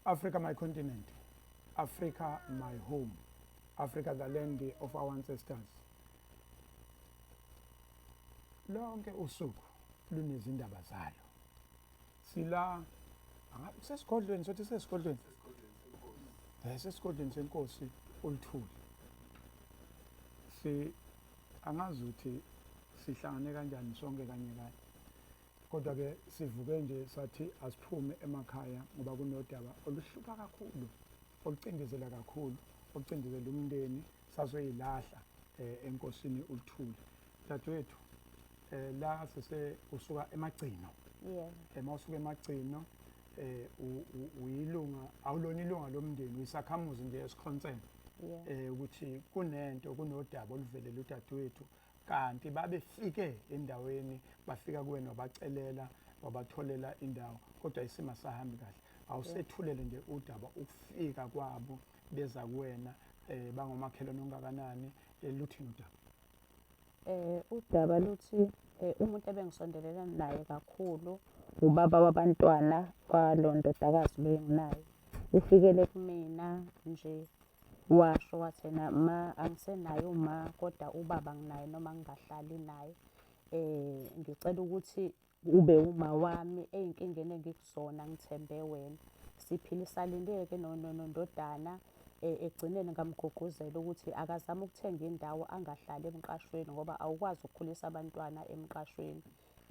Africa my continent. Africa my home. Africa the land of our ancestors. Lonke usuku lunezindaba zalo. Sila sesigodlweni sothi sesigodlweni. Eh sesigodlweni senkosi oluthuli. Si angazi ukuthi sihlangane kanjani sonke kanye kanye. kodwa ke sivuke nje sathi asiphume emakhaya ngoba kunodaba oluhlupha kakhulu olucindezela kakhulu olucindezela umndeni sazoyilahla eh, enkosini uluthule dadewethu eh, la sise usuka emagcino yebo eh, mawusuka emagcino eh uyilunga awulona ilunga lomndeni uyisakhamuzi nje esikhonseni eh ukuthi kunento kunodaba oluvelela udadewethu kanti babefike endaweni bafika kuwena wabacelela wabatholela indawo kodwa isimo sahambi kahle awusethulele nje udaba ukufika kwabo beza kuwena um bangomakhelwane ongakanani eh, luthini udaba um udaba luthi um umuntu ebengisondelelana naye kakhulu ubaba wabantwana kwalo ndodakazi benginayo ufikele kumina nje Washo wathi yena ma angisenaye uma kodwa ubaba nginaye noma ngingahlali naye. Ngicela ukuthi ube wuma wami ey'nkingeni engikuzona ngithembe wena. Siphilisane-ke nondodana ekugcineni ngamugqugquzela ukuthi akazame ukuthenga indawo angahlali emqashweni ngoba awukwazi ukukhulisa abantwana emqashweni.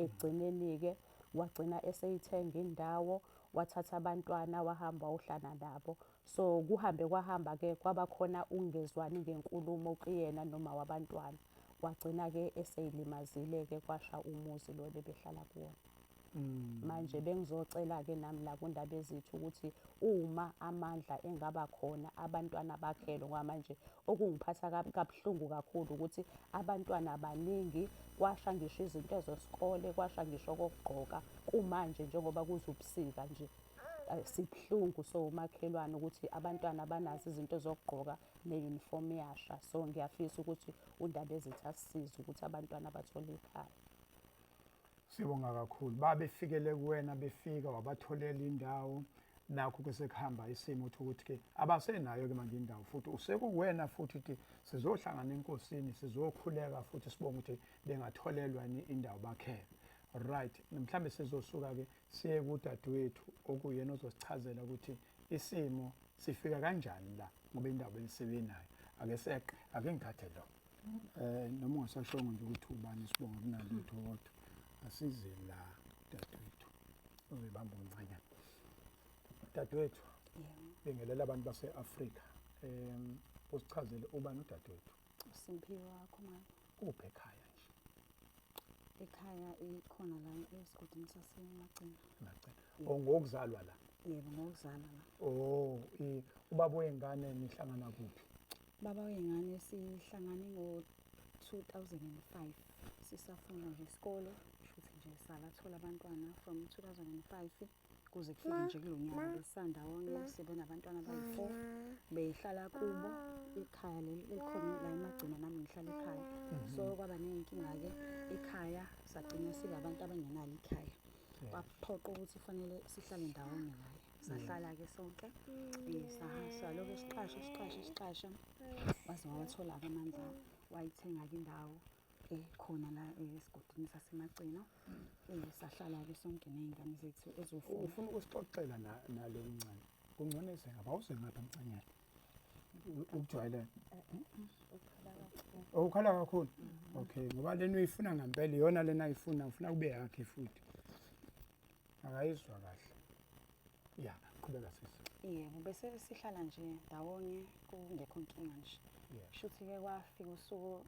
Ekugcineni-ke wagcina eseyithenga indawo wathatha abantwana wahamba wayohlala nabo. So kuhambe kwahamba-ke kwaba khona ukungezwani ngenkulumo kuyena noma wabantwana. Wagcina-ke eseyilimazile-ke kwasha umuzi lo bebehlala kuwona. Mm. Manje bengizocela-ke nami la kundaba ezithu ukuthi uma amandla engaba khona abantwana bakhelwe ngoba manje okungiphatha kabuhlungu kakhulu ukuthi abantwana baningi kwasha ngisho izinto zesikole kwasha ngisho kokugqoka kumanje njengoba kuze ubusika nje sibuhlungu so umakhelwane ukuthi abantwana banazo izinto zokugqoka ne-uniform yasha so ngiyafisa ukuthi undaba ezithi asisize ukuthi abantwana bathole ikhaya sibonga kakhulu babefikele kuwena befika wabatholela indawo nakho ke sekuhamba isimo uthi ukuthi ke abasenayo ke manje indawo futhi usekuwena futhi ukuthi sizohlangana enkosini sizokhuleka futhi sibonga ukuthi bengatholelwa indawo bakhele right mhlambe sizosuka ke siye kudadewethu okuyena ozosichazela ukuthi isimo sifika kanjani la ngoba indaba elisebinayo ake seqe ake ngithathe lo eh noma ungasashongo nje ukuthi ubani sibonga kunalutho kodwa asize la dadewethu uzibamba umncanyana dadewethu bingelela abantu base-afrika um usichazele ubani udadewethu uSimphiwe wakho mama kuphi ekhaya nje ekhaya ikhona la esigodini sasemagcina magcina oh ngokuzalwa la yebo ngokuzalwa la oh ubaba wengane nihlangana kuphi baba wengane sihlangane ngo 2005 sisafunda nje isikole shuthi nje salathola abantwana from 2005 kuze kufike nje kulo nyaka besandawonye sibe nabantwana abayi-four behlala kubo ikhaya leli elikhona la emagcina nami ngihlala ekhaya mhm. so kwaba ney'nkinga-ke ekhaya sagcina sibe abantu abangenalo ikhaya kwaphoqa ukuthi kufanele sihlale ndawonye naye sahlala-ke sonke um saloke siqashe siqashe siqashe waze wawathola-ke amandla wayithenga-ke indawo eh khona la eh, esigodini sasemagcino eh sahlala ke sonke nezingane zethu ezofuna ufuna ukusixoxela na nalo mncane kungcono esenga bawuse ngapha emcanyana ukujwayelana oh, ukhala kakhulu okay ngoba lena uyifuna ngempela iyona lena ayifuna ufuna kube yakhe futhi akayizwa kahle ya qhubeka sisi yebo bese sihlala nje ndawonye kungekho nkinga nje shuthi ke kwafika usuku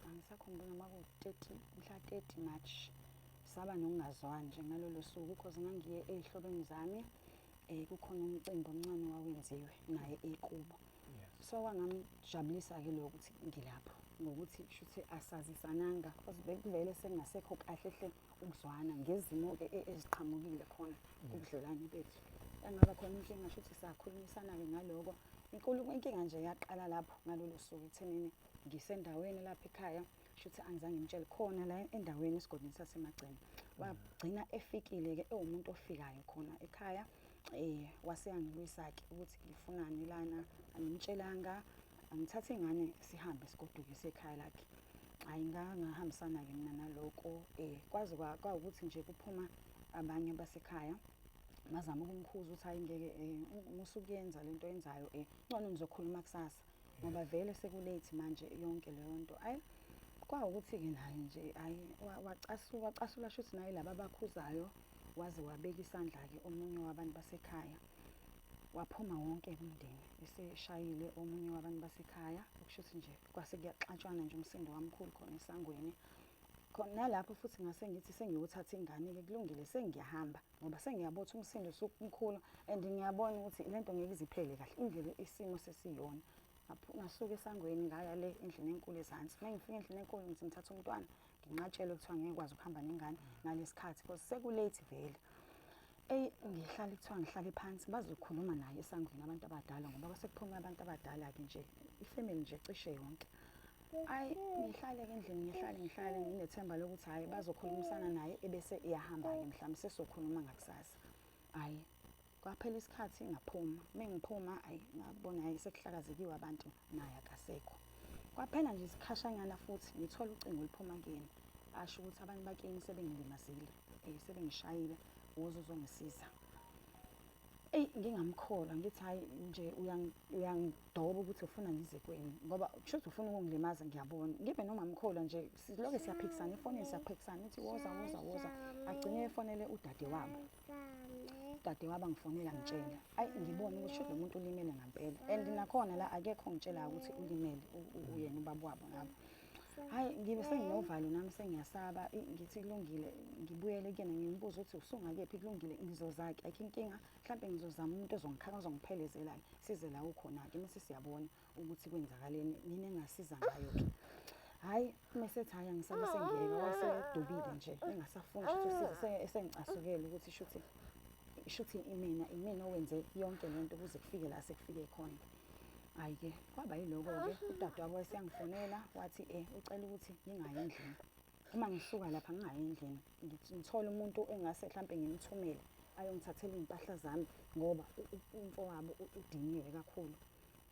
angisakhumbuli noma ku-30 mhla 30 March saba nokungazwani nje ngalolo suku because ngangiye ezihlobeni zami eh kukhona umcimbi omncane wawenziwe naye ekubo so kwangamjabulisa ke lokho ukuthi ngilapho ngokuthi kushuthi asazisananga because bekuvele sengasekho kahle hle ukuzwana ngezimo e, e, eziqhamukile khona kubudlelwane bethu engaba khona inkinga shuthi sakhulumisana ke ngaloko inkulu inkinga nje yaqala lapho ngalolo suku ekuthenini ngisendaweni lapha ekhaya shuthi angizange ngitshele khona la endaweni esigodini sasemagcina wagcina efikile-ke ewumuntu ofikayo khona ekhaya um waseyangilwisa-ke ukuthi ngifunani lana angimtshelanga angithathe ingane sihambe sigoduke sekhaya lakhe hhayi ngangahambisana-ke mina naloko um kwaze kwawukuthi nje kuphuma abanye basekhaya ngazama ukumkhuza ukuthi hayi ngeke um eh, musukuyenza le nto yenzayo um eh, ngcono nizokhuluma kusasa ngoba vele sekulate manje yonke leyo nto ayi kwawukuthi-ke naye nje ayi wacasuka wacasula shuthi naye laba abakhuzayo waze wabeka isandla-ke omunye wabantu basekhaya waphuma wonke umndeni eseshayile omunye wabantu basekhaya okusho ukuthi nje kwase kuyaxatshwana nje umsindo wamkhulu khona esangweni khona nalapho futhi ngase ngithi sengiwuthatha ingane-ke kulungile sengiyahamba ngoba sengiyabona ukuthi umsindo usukumkhulu and ngiyabona ukuthi le nto ngeke iziphele kahle indlela isimo sesiyona ngasuke esangweni ngaya le endlini enkulu ezansi uma ngifika endlini enkulu ngithi ngithatha umntwana nginqatshelwe kuthiwa ngeke kwazi ukuhamba nengane ngalesi khathi because sekulate vele eyi ngihlale kuthiwa ngihlale phansi bazokhuluma naye esangweni abantu abadala ngoba kwasekuphume abantu abadala-ke nje ifamily nje cishe yonke ayi ngihlale ke endlini ngihlale ngihlale nginethemba lokuthi hhayi bazokhulumisana naye ebese iyahamba-ke mhlawumbe sesokhuluma ngakusasa hhayi kwaphela isikhathi ngaphuma mengiphuma ayi ngabona ayi sekuhlakazekiwe abantu naye akasekho kwaphela nje isikhashanyana futhi ngithola ucingo oluphuma kuyena asho ukuthi abantu bakini sebengilimazile um sebengishayile woze uzongisiza eyi ngingamkholwa ngithi hhayi nje uyangidoba ukuthi ufuna ngize kweni ngoba kusho ukuthi ufuna ukungilimaza ngiyabona ngibe noma mkholwa nje siloke siyaphikisana efonini siyaphikisana ithi woza woza woza agcine efonele udade wabo udade wabo angifonela ngitshela ayi ngibone ukuthi lo muntu ulimele ngampela and nakhona la akekho ongitshelayo ukuthi ulimele uyena ubaba wabo ngabo hayi ngibe senginovalo nami sengiyasaba ngithi kulungile ngibuyele kuyena ngimbuza ukuthi usungakephi kulungile ngizozake ayikho inkinga mhlawumbe ngizozama umuntu ozongikhanga ozongiphelezelayo size la ukhona-ke mase siyabona ukuthi kwenzakaleni mina engasiza ngayo-ke hhayi uma esethi hhayi angisabe sengiyeka wayesedubile nje engasafuni ukuthi usize esengicasukele ukuthi shuthi shuthi imina imina owenze yonke le nto kuze kufike la sekufike khona Hayi-ke kwaba yiloko-ke udadewabo wayeseyangifonela wathi um ucela ukuthi ngingayi endlini. Uma ngisuka lapha ngingayi endlini ngithole umuntu engase mhlawumpe ngimthumele ayongithathela iy'mpahla zami ngoba umfowabo udiniwe kakhulu.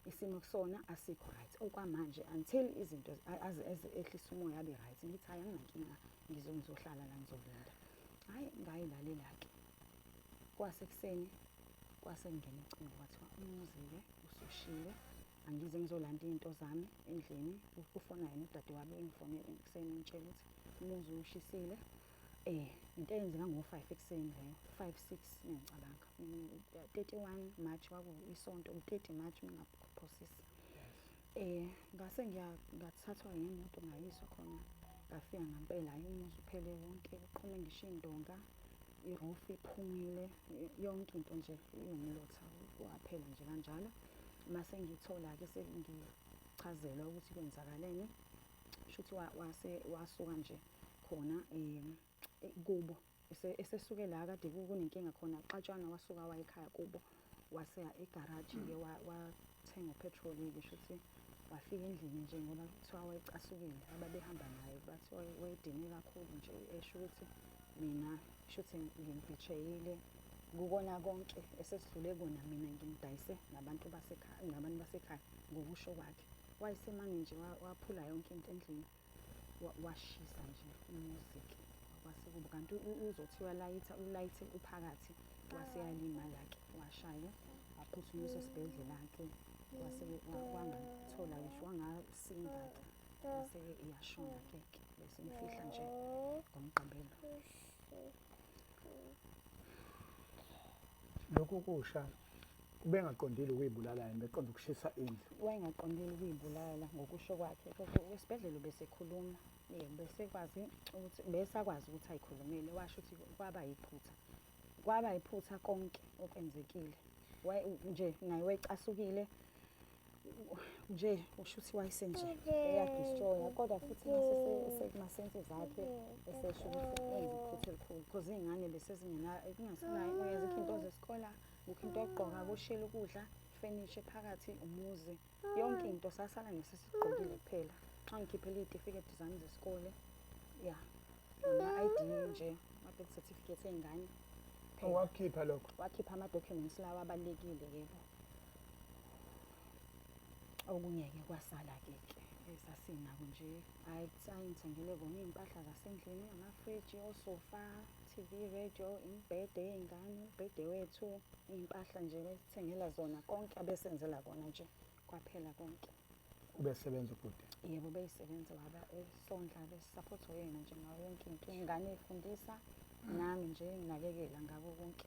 Isimo kusona asikho right okwamanje until izinto ehlisa umoya abe right. Ngithi hhayi anginankinga ngizohlala la ngizolinda. Hhayi ngayilalela-ke. Kwasekuseni kwase kungena ucingo kwathiwa umuzile usushiwe angize ngizolanda izinto zami endlini ufona yena udade wami engifonele ekuseni ngitshela ukuthi umuzi ushisile eh into eyenzeka ngo-5 ekuseni leyo 5 6 ngiyacabanga 31 March kwaku isonto u-30 March ngingaphosisa Eh ngase ngiya ngathathwa yimoto ngayiswa khona ngafika ngampela hayi umuzi uphele wonke kuqhume ngisho indonga i-roof iphumile yonke into nje iwumlotha waphela nje kanjalo mase ngithola-ke sengichazelwa ukuthi kwenzakaleni shuthi wase wasuka nje khona um kubo esesuke la kade kunenkinga khona xatshana wasuka wayekhaya kubo waseya egaraji ke wathenga upetrol ke shuthi wafika endlini nje ngoba kuthiwa wayecasukile ababehamba naye bathi wayedine kakhulu nje esho ukuthi mina shuthi ngimbhijeyile kukona konke esesidlule kona mina ngimdayise nabantu basekhaya nabantu basekhaya ngokusho kwakhe wayesemane nje waphula yonke into endlini washisa nje umuzi-ke kwase kuba kanti uzothi uyalayitha ulayithe uphakathi wase yalimala-ke washaya waphuthunyiswa esibhedlela-ke wase wangathola ngisho wangasinda-ke wase-ke iyashona-ke ke besimfihla nje ngomgqibelo lokhu kusha ubengaqondile ukuyibulala yena beqonda ukushisa indlu wayengaqondile ukuyibulala ngokusho kwakhe kodwa esibhedlela ubesekhuluma yebo besekwazi ukuthi besakwazi ukuthi ayikhulumile washo ukuthi kwaba yiphutha kwaba yiphutha konke okwenzekile nje naye wayecasukile nje usho ukuthi wayesenje eyadistroya kodwa futhi masense zakhe esesho ukuthi enze iphutha elikhulu because iy'ngane besezingenakungasenayenza into zesikole kukho into yokugqoka kushela ukudla ifenisha phakathi umuzi yonke into sasala nesesigqokile kuphela xa ngikhiphela iy'tifiketi zami zesikole ya nama-id nje ama-birth certificate ey'ngane wakhipha lokho wakhipha ama-documents lawa abalulekile yebo Okunye-ke kwasala-ke ke esasinako nje hhayi kusaye ngithengele kona iy'mpahla zasendlini, amafriji, osofa, T_V, radio, imibhede yey'ngane, umbhede wethu, iy'mpahla nje besithengela zona konke abesenzela kona nje kwaphela konke. Ubesebenza ubhuti? Yebo beyisebenza baba esondla besisaphotha uyena nje ngayo yonke into, iy'ngane ey'fundisa nami nje nginakekela ngako konke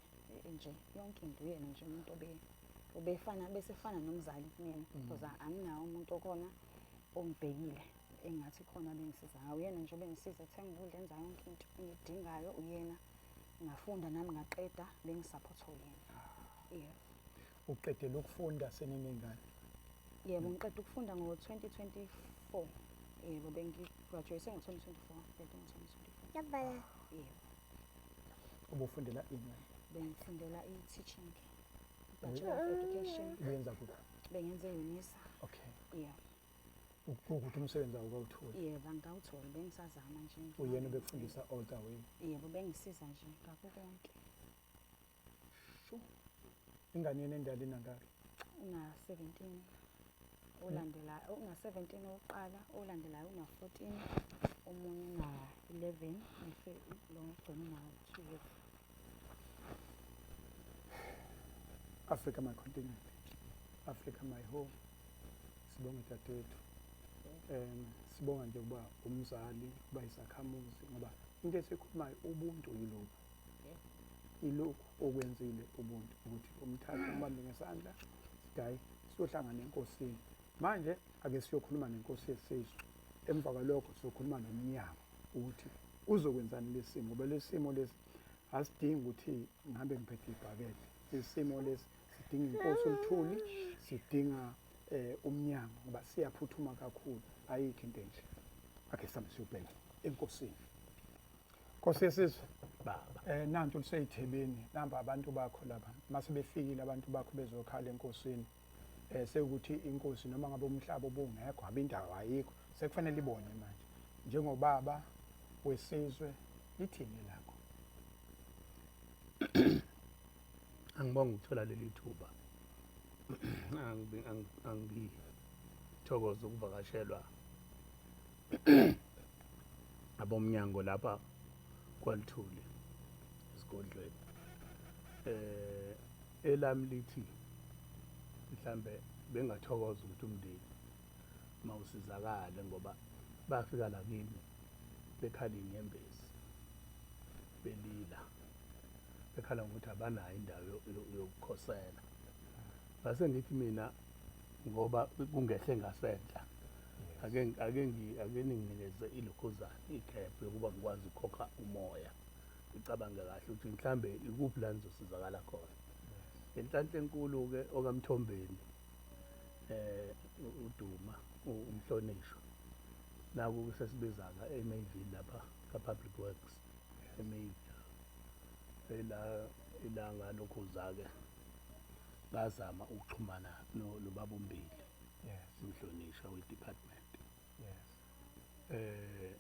nje yonke into uyena nje umuntu obe. ubefana bese fana nomzali kumina mm. because anginawo umuntu okona ongibhekile engathi khona bengisiza ngawo uyena nje obengisiza ethenga ukudla enza yonke into engidingayo uyena ngafunda nami ngaqeda bengisaphothwa uyena yeah uqedele ukufunda senenengane yebo ngiqeda ukufunda ngo-2024 yebo bengigraduate ngo-2024 ngqede ngo-2024 yabala yebo ubufundela ini bengifundela i-teaching Bachelor of Education. Benza kuphi? Bengenze Unisa. Okay. Yeah. Ukuthi umsebenzi awukawutholi. Yebo, angikawutholi bengisazama nje. Uyena obekufundisa all the way. Yebo, bengisiza nje ngakho konke. Sho. Ingane yena endala inangaki? Una 17. Ulandela una 17 oqala, olandelayo una 14, omunye una 11, bese lo ngigcina una 12. Africa my continent Africa my home sibonga dadethu um sibonga nje ukuba umzali uba isakhamuzi ngoba into esikhulumayo ubuntu yilokhu ilokhu okwenzile ubuntu ukuthi umthathe umbambe ngesandla sidayi siyohlangana enkosini manje Ake siyokhuluma nenkosi yesizwe emva kwalokho sizokhuluma nomnyango ukuthi uzokwenzani lesimo ngoba lesimo lesi asidingi ukuthi ngihambe ngiphethe ibhakede isimo lesi sidinga inkosi oluthuli sidinga eh umnyango ngoba siyaphuthuma kakhulu ayikho into enje akhe sami siyobheka enkosini Nkosi yesizwe baba eh nantu liseyithebeni namba abantu bakho laba mase befikile abantu bakho bezokhala enkosini eh sekuthi inkosi noma ngabe umhlaba ubungekho abindawo ayikho sekufanele ibone manje njengobaba wesizwe lithini lakho angibonga ukuthola leli thuba angithokoza ukuvakashelwa abomnyango lapha kwalithuli esigodlweni eh Elami lithi mhlambe bengathokoza ukuthi umndeni mawusizakale ngoba bafika la kimi bekhala inyembezi belila bekhala ngokuthi abanayo indawo yokukhosela ngase ngithi mina ngoba kungehle ngasenhla ake ake ake ninginikeze ilokhozana ikhephu yokuba ngikwazi ukukhokha umoya icabange kahle ukuthi mhlambe ikuphi la nizosizakala khona ngenhlanhla enkulu-ke okamthombeni eh uduma umhlonishwa naku kusesibizaka eMayville lapha ka-public works eMayville ela ilanga lokhuza-ke ngazama ukuxhumana nobaba umbili yes umhlonishwa we-department yes eh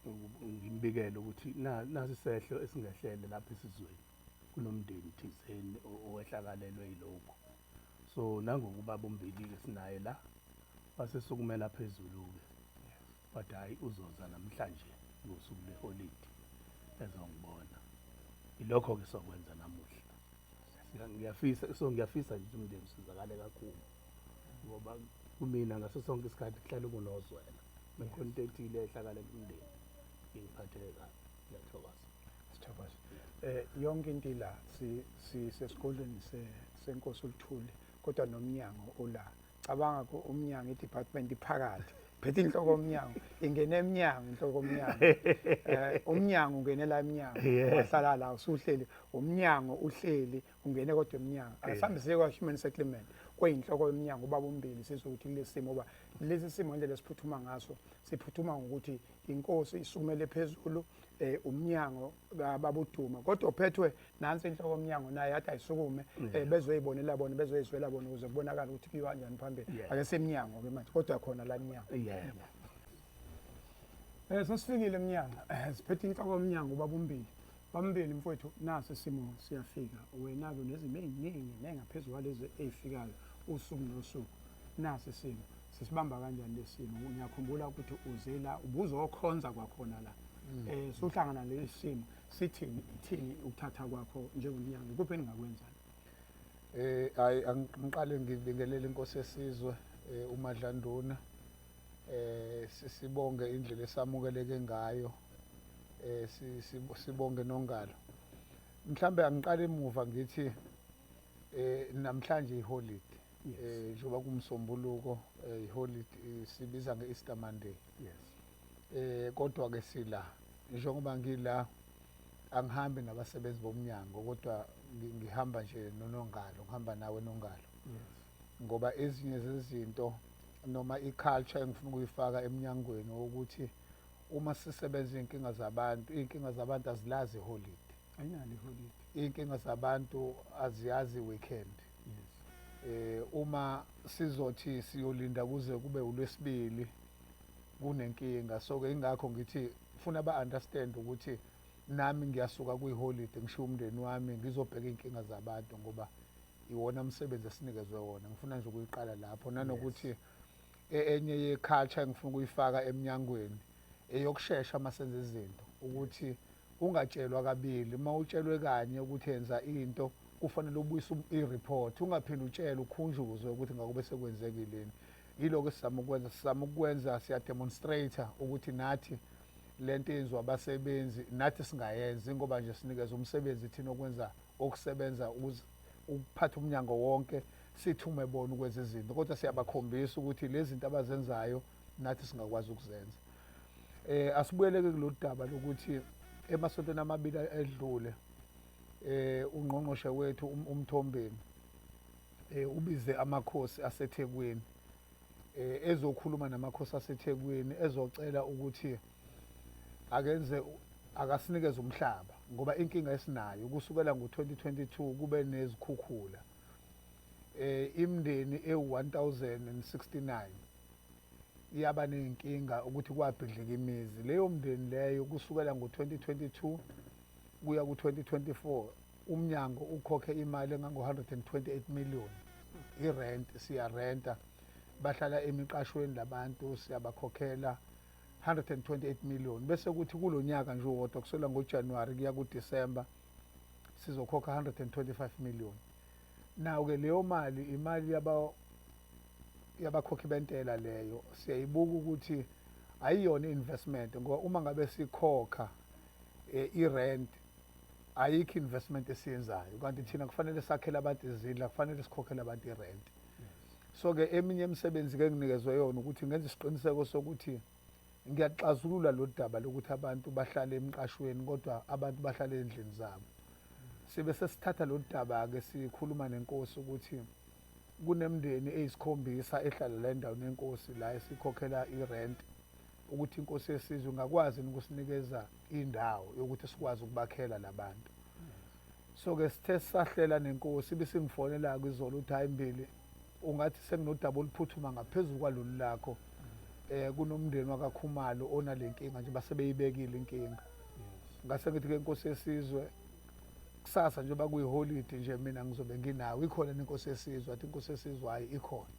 ngimbikele ukuthi nasi sehlo esingehlele lapha esizweni kunomndeni thizeni owehlakalelwe yilokhu so nangokuba bombikile sinaye la wasesukumela phezulu-ke wathi hhayi uzoza namhlanje ngosuku lweholidi ezongibona ilokho-ke sokwenza namuhla ngiyafisa so ngiyafisa nje ukuthi umndeni usizakale kakhulu ngoba kumina ngaso sonke isikhathi kuhlale kunozwela mekhona into ethile ehlakalela umndeni ingiphatheke kabi ngiyathokoza sithokoza eh yonke into ila si sesigodlweni se senkosi uluthuli kodwa nomnyango ula cabanga ko umnyango idepartment iphakathi phethe inhloko omnyango ingena emnyango inhloko omnyango eh umnyango ungenela emnyango wahlala la usuhleli umnyango uhleli ungene kodwa emnyango asihambiseke kwa-human settlement kweyinhloko yomnyango ubaba umbili sizwe ukuthi kulesi simo uba lesi simo indlela esiphuthuma ngaso siphuthuma ngokuthi inkosi isukumele phezulu eh umnyango babuduma kodwa uphethwe nansi inhloko omnyango naye yathi ayisukume mm. eh, bezoyibonela bona bezoyizwela bona ukuze kubonakala ukuthi kuyiwa kanjani phambili ake semnyango ke manje kodwa khona la mnyango yebo eh sesifikile emnyango eh, siphethe inhloko omnyango babumbili Bambili mfowethu nasi isimo siyafika wena-ke unezimo ey'ningi nengaphezu kwalezi ey'fikayo usuku nosuku nasi isimo sisibamba kanjani lesimo ngiyakhumbula ukuthi uze la ubuzokhonza kwakhona la um eh, suhlangana lesi simo sithini ithini ukuthatha kwakho njengonyanga ikuphi eningakwenza um eh, hayi angiqale ngibingelele inkosi yesizwe um umadlanduna eh sibonge indlela esamukeleke ngayo eh sibonge nongalo mhlambe angiqale emuva ngithi eh namhlanje iholiday eh njengoba kumsombuluko eh, iholiday eh, sibiza ngeEaster Monday yes eh kodwa ke sila njengoba ngila angihambi nabasebenzi bomnyango kodwa ngihamba nje nonongalo ngihamba nawe nongalo yes ngoba ezinye zezinto noma i-culture engifuna ukuyifaka emnyangweni wokuthi uma sisebenza iy'nkinga zabantu iy'nkinga zabantu azilazi iholidi ayinalo iholidi iy'nkinga zabantu aziyazi i-weekend yes. eh uma sizothi siyolinda kuze kube ulwesibili kunenkinga so ke ingakho ngithi funa ba understand ukuthi nami ngiyasuka kwiholide ngishiya umndeni wami ngizobheka iy'nkinga zabantu ngoba iwona msebenzi esinikezwe wona ngifuna nje ukuyiqala lapho nanokuthi yes. E-, enye ye-culture engifuna ukuyifaka emnyangweni eyokushesha uma senza izinto ukuthi ungatshelwa kabili uma utshelwe kanye ukuthi yenza into kufanele ubuyise um-, i-report ungaphinde utshele ukhunjuzwe ukuthi ngakube sekwenzekileni yiloko esizama ukwenza sizama ukwenza siyademonstrata ukuthi nathi le nto yenziwa abasebenzi nathi singayenzi ngoba nje sinikeza umsebenzi thina okwenza okusebenza ukuphatha umnyango wonke sithume bona ukwenza izinto kodwa siyabakhombisa ukuthi lezi zinto abazenzayo nathi singakwazi ukuzenza eh asibuyeleke kulolu daba lokuthi emasontweni amabili edlule eh ungqongqoshe wethu um-, umthombeni eh ubize amakhosi aseThekwini eh ezokhuluma namakhosi aseThekwini ezocela ukuthi akenze akasinikeze umhlaba ngoba inkinga esinayo kusukela ngo-2022 kube nezikhukhula eh imndeni ewu-1069 iyaba nezinkinga ukuthi kwabhidlika imizi leyo mndeni leyo kusukela ngo-2022 kuya ku-2024 umnyango ukhokhe imali engango-128 million irent siyarenta bahlala emiqashweni labantu siyabakhokhela 128 million bese kuthi kulo nyaka nje uwodwa kusela ngoJanuary kuya kuDecember sizokhokha 125 million nawo-ke leyo mali imali yabakhokhi bentela leyo siyayibuka ukuthi ayiyona i-investment ngoba uma ngabe sikhokha eh, i-rent ayikho investment esiyenzayo kanti thina kufanele sakhele abantu izindla kufanele sikhokhele abantu irenti so ke eminye imisebenzi ke nginikezwe yona ukuthi ngenze isiqiniseko sokuthi ngiyaxazulula lo daba lokuthi abantu bahlale emqashweni kodwa abantu bahlale endlini zabo sibe sesithatha lo daba-ke sikhuluma nenkosi ukuthi kunemndeni eyisikhombisa ehlala la endaweni yenkosi la esikhokhela irenti ukuthi inkosi yesizwe ingakwazi ukusinikeza indawo yokuthi sikwazi ukubakhela labantu soke sithe sisahlela nenkosi ibisingifonela-ke izolo ukuthi hhayi mbili ungathi senginodaba oluphuthuma ngaphezulu kwalolu lakho um kunomndeni wakakhumalo onale nkinga nje basebeyibekile inkinga ngase ngithi-ke inkosi yesizwe kusasa njengoba kuyiholidi nje mina ngizobe nginawo ikhona nenkosi yesizwe athi inkosi yesizwe hhayi ikhona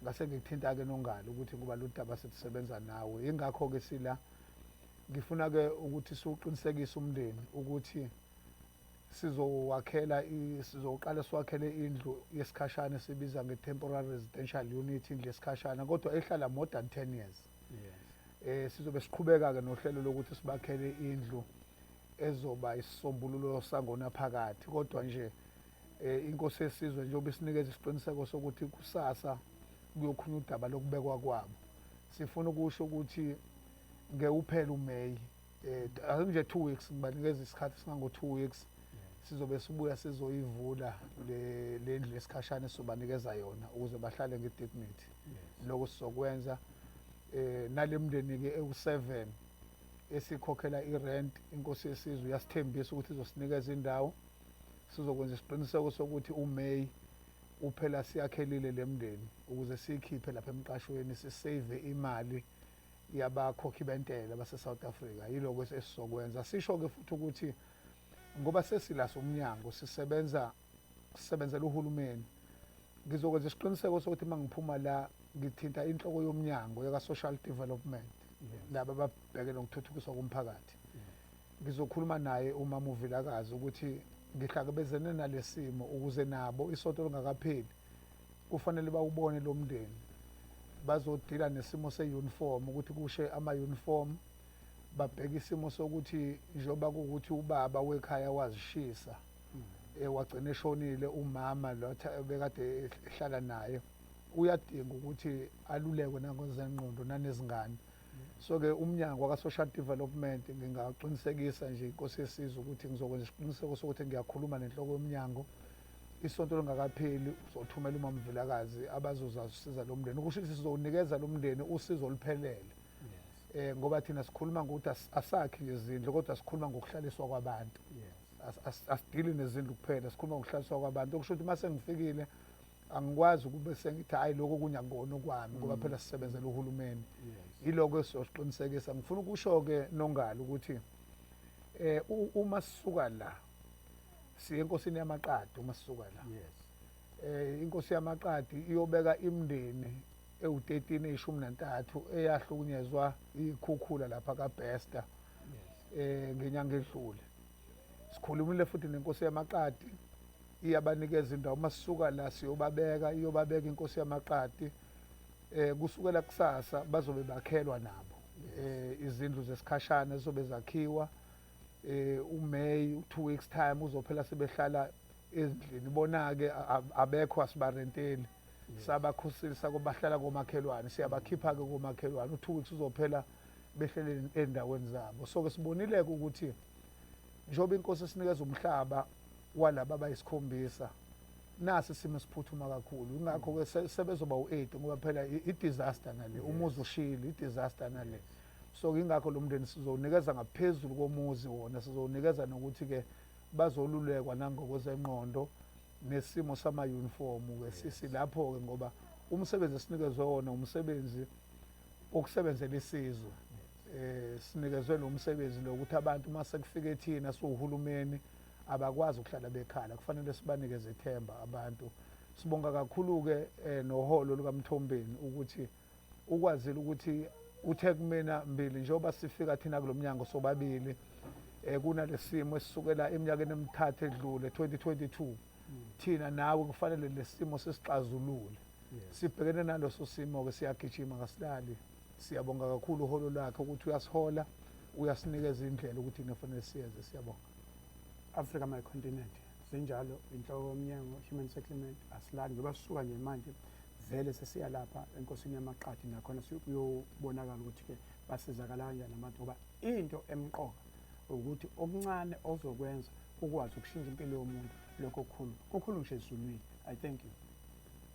ngase ngikuthinta-ke nongalo ukuthi kuba lu daba sithi sebenza nawe yingakho-ke sila Ngifuna ke ukuthi siwuqinisekise umndeni ukuthi sizowakhela sizoqala siwakhele indlu yesikhashana esibiza nge-temporary residential unit indlu yesikhashana kodwa ehlala more than 10 years yes. eh sizobe siqhubeka-ke nohlelo lokuthi sibakhele indlu ezoba isisombululo sangona phakathi kodwa nje eh inkosi yesizwe njengoba isinikeza isiqiniseko sokuthi kusasa kuyokhulunywa udaba lokubekwa kwabo sifuna ukusho ukuthi ngeke uphele uMay eh ake nje 2 weeks ngibanikeza isikhathi singango 2 weeks sizobe sibuya sizoyivula le lendlu lesikhashana sizobanikeza yona ukuze bahlale nge dignity lokho sizokwenza eh nalemndeni ke ewu7 esikhokhela irent inkosi yesizwe yasithembisa ukuthi izosinikeza indawo sizokwenza isiqiniseko sokuthi uMay uphela siyakhelile lemndeni ukuze sikhiphe lapha emqashweni sisave imali yabakhokhi bentela base-south africa yiloko esizokwenza sisho-ke futhi ukuthi ngoba sesila somnyango sisebenza sisebenzela uhulumeni ngizokwenza isiqiniseko sokuthi uma ngiphuma la ngithinta inhloko yomnyango yaka-social development laba ababheke nokuthuthukiswa komphakathi ngizokhuluma naye uma muvilakazi ukuthi ngihlakabezene nalesimo ukuze nabo isonto lingakapheli kufanele bawubone lo mndeni bazodila nesimo se-uniform ukuthi kushe ama-uniform babheke isimo sokuthi njengoba kuwukuthi ubaba wekhaya wazishisa hmm. eh, wagcina eshonile umama lo bekade ehlala naye uyadinga ukuthi alulekwe nangozengqondo nanezingane So-ke uMnyango waka-Social Development ngingaqinisekisa nje inkosi yesizwe ukuthi ngizokwenza isiqiniseko sokuthi ngiyakhuluma nenhloko yomnyango isonto lingakapheli uzothumela umama Vilakazi abazozasiza lo mndeni ukusho ukuthi sizowunikeza lo mndeni usizo oluphelele eh ngoba thina sikhuluma ngokuthi asakhi nje izindlu kodwa sikhuluma ngokuhlaliswa kwabantu asidili nezindlu kuphela sikhuluma ngokuhlaliswa kwabantu okusho ukuthi uma sengifikile angikwazi ukube sengithi hayi lokho kunye akukona okwami ngoba mm. phela sisebenzela uhulumeni yiloko esizoqinisekisa ngifuna ukusho-ke nongalo ukuthi eh uma sisuka la siye enkosini yamaqadi uma sisuka la yes eh inkosi yamaqadi iyobeka imndeni ewu-13 eyishumi nantathu eyahlukunyezwa ikhukhula lapha kabester eh ngenyanga edlule sikhulumile futhi nenkosi yamaqadi iyabanikeza indawo uma sisuka la siyobabeka iyobabeka inkosi yamaqadi um kusukela kusasa bazobe bakhelwa nabo um izindlu zesikhashana zizobe zakhiwa um umay u-two weeks time uzophela sebehlala ezindlini bona-ke abekho asibarenteli sabakhusisa kobahlala komakhelwane siyabakhipha-ke komakhelwane u-two weeks uzophela behlele endaweni zabo so-ke sibonile-ke ukuthi njengoba inkosi esinikeza umhlaba walaba abayisikhombisa nasi isimo siphuthuma kakhulu ingakho ke sebezoba u8 ngoba phela i disaster nale umuzi ushile i disaster nale so ingakho lo mndeni sizonikeza ngaphezulu komuzi wona sizonikeza nokuthi ke bazolulekwa nangokwezenqondo nesimo sama uniform ke sisi lapho ke ngoba umsebenzi esinikezwe wona umsebenzi okusebenzela isizwe eh sinikezwe lo msebenzi lo ukuthi abantu uma sekufike thina siwuhulumeni abakwazi ukuhlala bekhala kufanele sibanikeze ithemba abantu sibonga kakhulu-ke eh, noholo lukamthombeni ukuthi ukwazile ukuthi uthe kumina mbili njengoba sifika thina kulo mnyango sobabili um kunalesimo esisukela eminyakeni emithathu edlule 2022 thina nawe kufanele lesimo sisixazulule sibhekene naloso simo-ke siyagijima kasilali Siyabonga kakhulu uholo lwakhe ukuthi uyasihola uyasinikeza indlela ukuthi kufanele siyenze siyabonga Africa my continent zinjalo inhloko yomnyango human settlement asilani ngoba sisuka nje manje vele sesiya lapha enkosini yamaqadi nakhona siyobonakala ukuthi-ke basizakala kanjani abantu ngoba into emqoka ukuthi okuncane ozokwenza ukwazi ukushintsha impilo yomuntu lokho kukhulu kukhulu ngisho ezulwini i thank you